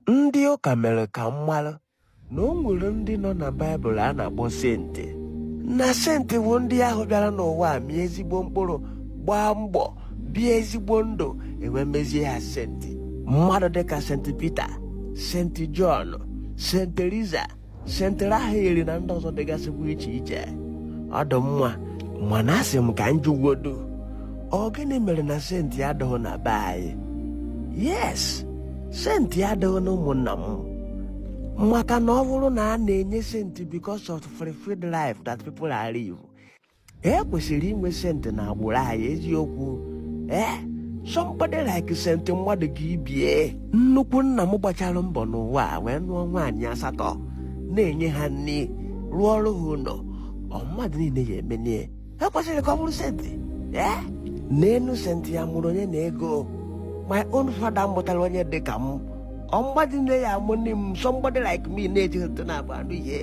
Ndị ụka mere ka m mara na o nwere ndị nọ na Baịbụl a na-akpọ senti na senti bụ ndị ahụ bịara n'ụwa a mịa ezigbo mkpụrụ gbaa mbọ bie ezigbo ndụ e wee mezie ha senti mmadụ dịka senti Pita senti Jọn senti Teresa senti Rafael na ndị ọzọ dịgasịkwa iche iche ọ dụ mma mana asị m ka m jụgodu ọ gịnị mere na senti adịghị na be anyị yes senti adịghị na ụmụnna m maka na ọ bụrụ na a na-enye senti because of fulfilled life that people are live e kwesịrị inwe sentị n'agbụrụ anyị eziokwu ee eh? somebody like sentị mmadụ gị bie nnukwu nna m gbachara mbọ n'ụwa wee nụọ nwaanyị asatọ na-enye ha nri rụọrọ ha ụlọ ọ mmadụ niile ya emelie e kwesịrị ka ọ bụrụ sentị ee eh? n'elu sentị ya mụrụ onye na ego my own father mụtara onye dị ka m ọ mmadụ niine ya-amụni m somebody like me na-ejighị ntụ na agba anụ ihe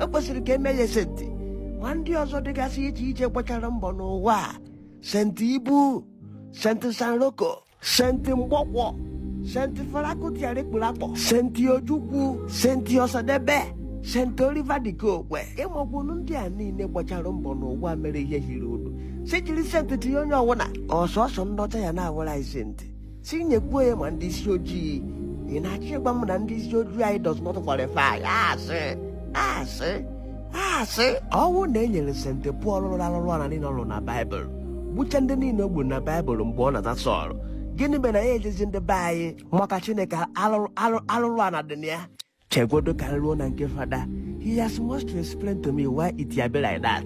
o kwesịrị ka e mee ya senti ma ndị ọzọ dịgasị iche iche gbachara mbọ n'ụwa a. senti Ibu senti Sam Loco senti mgbọkwọ senti Fela Kuti Anikulapo senti Ojukwu senti Osadebe senti Oliver De Coque ịmakwunu ndị a niile gbachara mbọ n'ụwa mere ihe hiri nne si jiri senti tinye onye ọwụna ọ sọsọ ndị ọcha ya na-awụrụ anyị senti tinyekwuo ya ma ndị isi ojii ị na-achọ ịgwa m na ndị isi ojii anyị does not qualify asị asị asị ọ wụ na e nyere senti Pọl rụrụ arụrụ ala niile ọ rụrụ na baịbụl gbucha ndị niile o gburu na baịbụl mgbe ọ na-aza Sọl gịnị mere na ya ejezi ndị be anyị maka Chineke arụrụ arụ- arụrụ ala dị na ya chegodo ka m ruo na nke fada he has much to explain to me why it ya be like that